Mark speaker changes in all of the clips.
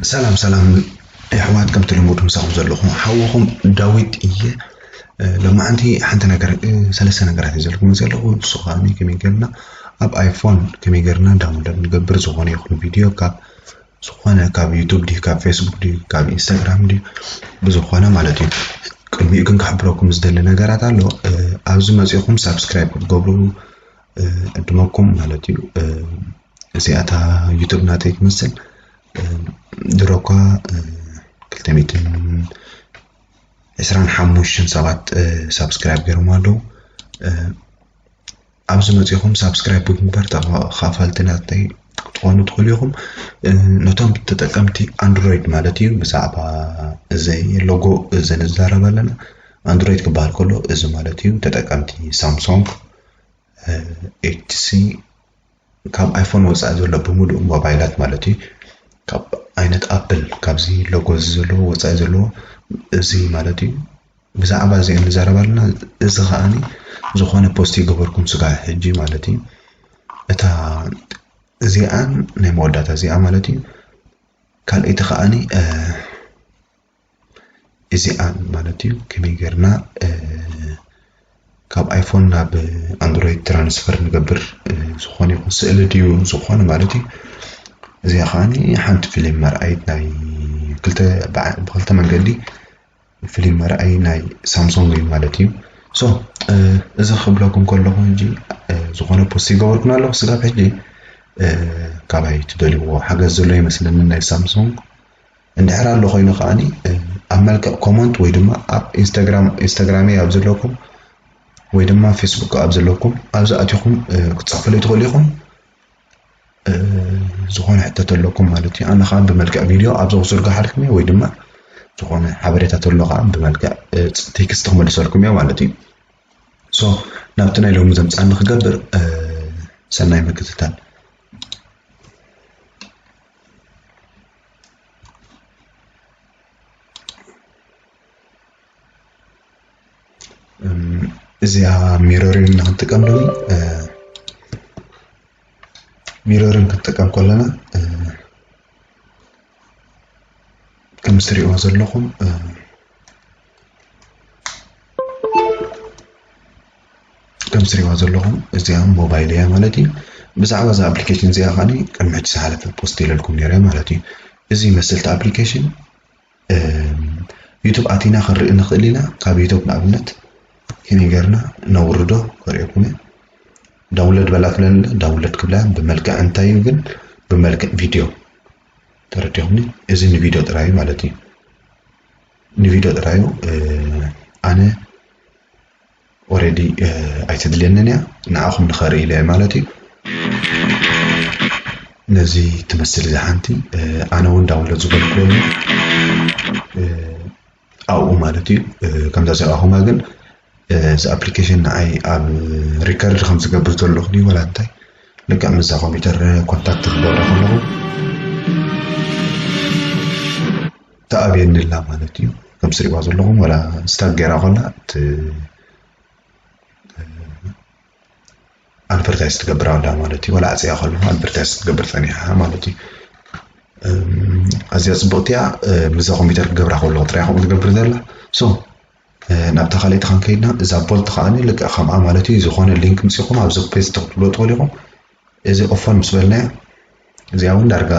Speaker 1: ሰላም ሰላም ኣሕዋት ከምቲ ልሙድ ምሳኹም ዘለኹ ሓወኹም ዳዊት እየ ሎማዓንቲ ሓንቲ ነገር ሰለስተ ነገራት እዩ ዘለኩም ዘለኹ ንሱ ከዓኒ ከመይ ጌርና ኣብ ኣይፎን ከመይ ጌርና ዳውንሎድ ንገብር ዝኾነ ይኹን ቪድዮ ካብ ዝኾነ ካብ ዩቱብ ድዩ ካብ ፌስቡክ ድዩ ካብ ኢንስታግራም ድዩ ብዝኾነ ማለት እዩ ቅድሚኡ ግን ክሕብረኩም ዝደሊ ነገራት ኣሎ ኣብዚ መፂኹም ሳብስክራይብ ክትገብሩ ዕድመኩም ማለት እዩ እዚኣታ ዩቱብ ናተይ ትመስል ድሮ እኳ ክልተ ሚእትን ዕስራን ሓሙሽተን ሰባት ሳብስክራይብ ገይሮም ኣለዉ ኣብዚ መጺኹም ሳብስክራይብ ብምግባር ተኻፋልቲ ናተይ ክትኾኑ ትኽእሉ ኢኹም። ነቶም ተጠቀምቲ ኣንድሮይድ ማለት እዩ ብዛዕባ እዚ ሎጎ እዚ ንዛረብ ኣለና። ኣንድሮይድ ክበሃል ከሎ እዚ ማለት እዩ ተጠቀምቲ ሳምሶንግ፣ ኤችሲ ካብ ኣይፎን ወፃኢ ዘሎ ብምሉእ ሞባይላት ማለት እዩ ካብ ዓይነት ኣፕል ካብዚ ሎጎ እዚ ዘለዎ ወፃኢ ዘለዎ እዚ ማለት እዩ ብዛዕባ እዚኤን ንዛረብ ኣለና እዚ ከኣ ዝኮነ ፖስት ኣይገበርኩን ስጋዕ ሕጂ ማለት እዩ እታ እዚኣን ናይ መወዳእታ እዚኣ ማለት እዩ ካልኣይቲ ከኣ እዚኣን ማለት እዩ ከመይ ጌርና ካብ ኣይፎን ናብ ኣንድሮይድ ትራንስፈር ንገብር ዝኾነ ይኹን ስእሊ ድዩ ዝኾነ ማለት እዩ እዚኣ ከዓኒ ሓንቲ ፊልም መርኣይት ናይ ክልተ ብክልተ መንገዲ ፍሊም መርኣይ ናይ ሳምሶንግ እዩ ማለት እዩ ሶ እዚ ክብለኩም ከለኹ እንጂ ዝኾነ ፖስት ይገበርኩን ኣለኹ ስጋብ ሕጂ ካባይ ትደልይዎ ሓገዝ ዘሎ ይመስለኒ ናይ ሳምሶንግ እንድሕር ኣሎ ኮይኑ ከዓኒ ኣብ መልክዕ ኮመንት ወይ ድማ ኣብ ኢንስታግራም ኢንስታግራመይ ኣብ ዘለኩም ወይ ድማ ፌስቡክ ኣብ ዘለኩም ኣብዚ ኣትኹም ክትፅሕፉለይ ትኽእሉ ኢኹም ዝኾነ ሕቶ ተለኩም ማለት እዩ ኣነ ከዓ ብመልክዕ ቪድዮ ኣብዛ ክዝርግሓልኩም እየ ወይ ድማ ዝኾነ ሓበሬታ ተሎ ከዓ ብመልክዕ ቴክስት ክመልሰልኩም እየ ማለት እዩ ሶ ናብቲ ናይ ሎሚ ዘምፃኒ ክገብር ሰናይ ምክትታል እዚኣ ሚሮሪን እና ክንጥቀም ደዊ ሚሮሪን ክንጥቀም ከለና ከም ትሪእዎ ዘለኹም ከም ትሪእዎ ዘለኹም እዚኣ ሞባይል እያ ማለት እዩ ብዛዕባ እዛ ኣፕሊኬሽን እዚኣ ከዓኒ ቅድሚ ሕጂ ዝሓለፈ ፖስት ኢለልኩም ነይረ ማለት እዩ እዚ መሰልቲ ኣፕሊኬሽን ዩቱብ ኣቲና ክንርኢ ንክእል ኢና ካብ ዩቱብ ንኣብነት ከመይ ገርና ነውርዶ ከርእየኩም እየ ዳውንሎድ በላ ትብለኒ ኣላ ዳውንሎድ ክብላ ብመልክዕ እንታይ እዩ ግን ብመልክዕ ቪድዮ ተረዲኹምኒ እዚ ንቪድዮ ጥራይ እዩ ማለት እዩ ንቪድዮ ጥራዩ ኣነ ኦሬዲ ኣይተድልየንን እያ ንዓኹም ንኸርኢ ኢለ ማለት እዩ ነዚ ትመስል እዛ ሓንቲ ኣነ እውን ዳውንሎድ ዝበልክዎ ኣብኡ ማለት እዩ ከምዛ ዘርኣኹማ ግን እዚ ኣፕሊኬሽን ንዓይ ኣብ ሪከርድ ከም ዝገብር ዘለኹ ድዩ ወላ እንታይ ልክዕ ምዛ ኮምፒውተር ኮንታክት ክገብረ ከለኹ ተኣብየኒ ኣላ ማለት እዩ ከም ትሪእዋ ዘለኹም ወላ ስታክ ገይራ ኮላ እቲ ኣድቨርታይዝ ትገብር ኣላ ማለት እዩ ወላ ኣፅያ ከለኹ ኣድቨርታይዝ ክትገብር ፀኒሓ ማለት እዩ ኣዝያ ፅብቕቲ እያ ምዛ ኮምፒተር ክገብራ ከለኹ ጥራይ ከምኡ ትገብር ዘላ ሶ ናብታ ካልኣይቲ ክንከይድና እዛ ቦልት ከዓኒ ልክዕ ከምኣ ማለት እዩ ዝኾነ ሊንክ ምፅኹም ኣብዚ ፔስት ክትብሎ ትኽእሉ ኢኹም እዚ ቕፎን ምስ በልናያ እዚኣ ውን ዳርጋ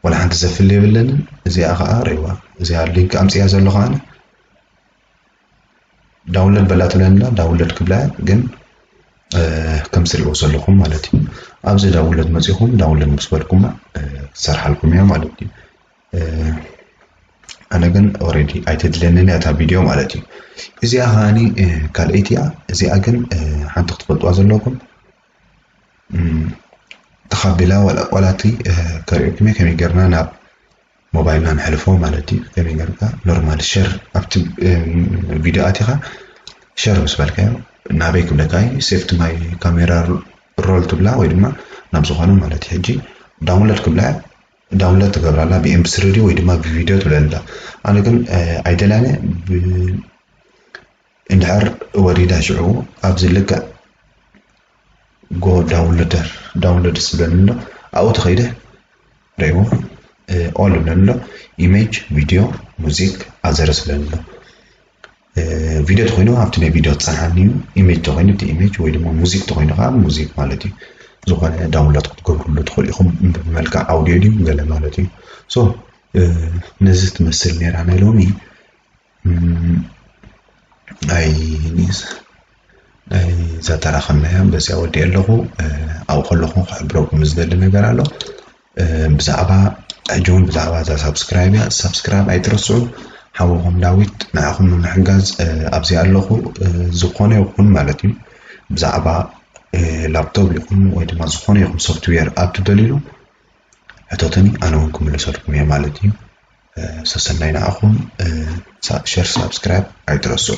Speaker 1: ዋላ ሓንቲ ዘፍሊ የብለንን እዚኣ ከኣ ርኢዋ እዚኣ ሊንክ ኣምጺኣ ዘለኹ ኣነ ዳውንሎድ በላ ትብለኒ ኣላ ዳውንሎድ ክብላያ ግን ከም ትሪእዎ ዘለኹም ማለት እዩ ኣብዚ ዳውንሎድ መፂኹም ዳውንሎድ ምስ በልኩማ ክትሰርሓልኩም እያ ማለት እዩ ኣነ ግን ኦረዲ ኣይተድለየንን እያ እታ ቪድዮ ማለት እዩ እዚኣ ከዓኒ ካልኣይቲ እያ እዚኣ ግን ሓንቲ ክትፈልጥዋ ዘለኩም ተኻቢላ ዋላ ዋላ እቲ ከርእየኩም እየ ከመይ ጌርና ናብ ሞባይልና ንሕልፎ ማለት እዩ ከመይ ጌርካ ኖርማል ሸር ኣብቲ ቪድዮ ኣቲኻ ሸር ምስ በልካዮ ናበይ ክብለካ እዩ ሴፍቲ ማይ ካሜራ ሮል ትብላ ወይ ድማ ናብ ዝኾነ ማለት እዩ ሕጂ ዳውንሎድ ክብላ ዳውንሎድ ትገብራ ኣላ ብኤምቢ ስሪ ወይ ድማ ብቪድዮ ትብለላ ኣነ ግን ኣይደላነ እንድሕር ወሪዳ ሽዑ ኣብዚ ልክዕ ጎ ዳውንሎደር ዳውንሎድ ዝብለኒ ኣሎ ኣብኡ ተኸይደ ሪእዎ ኦል ዝብለኒ ኣሎ ኢሜጅ ቪድዮ ሙዚክ ኣዘር ዝብለኒ ኣሎ ቪድዮ ተኮይኑ ኣብቲ ናይ ቪድዮ ትፀንሓኒ እዩ ኢሜጅ ተኮይኑ እቲ ኢሜጅ ወይ ድማ ሙዚክ ተኮይኑ ከዓ ሙዚክ ማለት እዩ ዝኾነ ዳውንሎድ ክትገብርሉ ትኽእሉ ኢኹም ብመልክዕ ኣውዲዮ ድዩ ገለ ማለት እዩ ሶ ነዚ ትመስል ነይራ ናይ ሎሚ ናይ ኒዝ ናይ ዘተራኸብናያ በዚኣ ወዲእ ኣለኹ ኣብ ከለኹ ክሕብረኩም ዝደሊ ነገር ኣሎ ብዛዕባ ሕጂ እውን ብዛዕባ እዛ ሳብስክራይብ እያ ሳብስክራይብ ኣይትረስዑ ሓወኹም ዳዊት ንዓኹም ንምሕጋዝ ኣብዚ ኣለኹ ዝኾነ ይኹን ማለት እዩ ብዛዕባ ላፕቶፕ ይኹን ወይ ድማ ዝኾነ ይኹን ሶፍትዌር ኣብ ትደልዩ ሕተቱኒ ኣነ እውን ክምልሰልኩም እየ ማለት እዩ ሰሰናይ ንዓኹም ሸር ሳብስክራይብ ኣይትረስዑ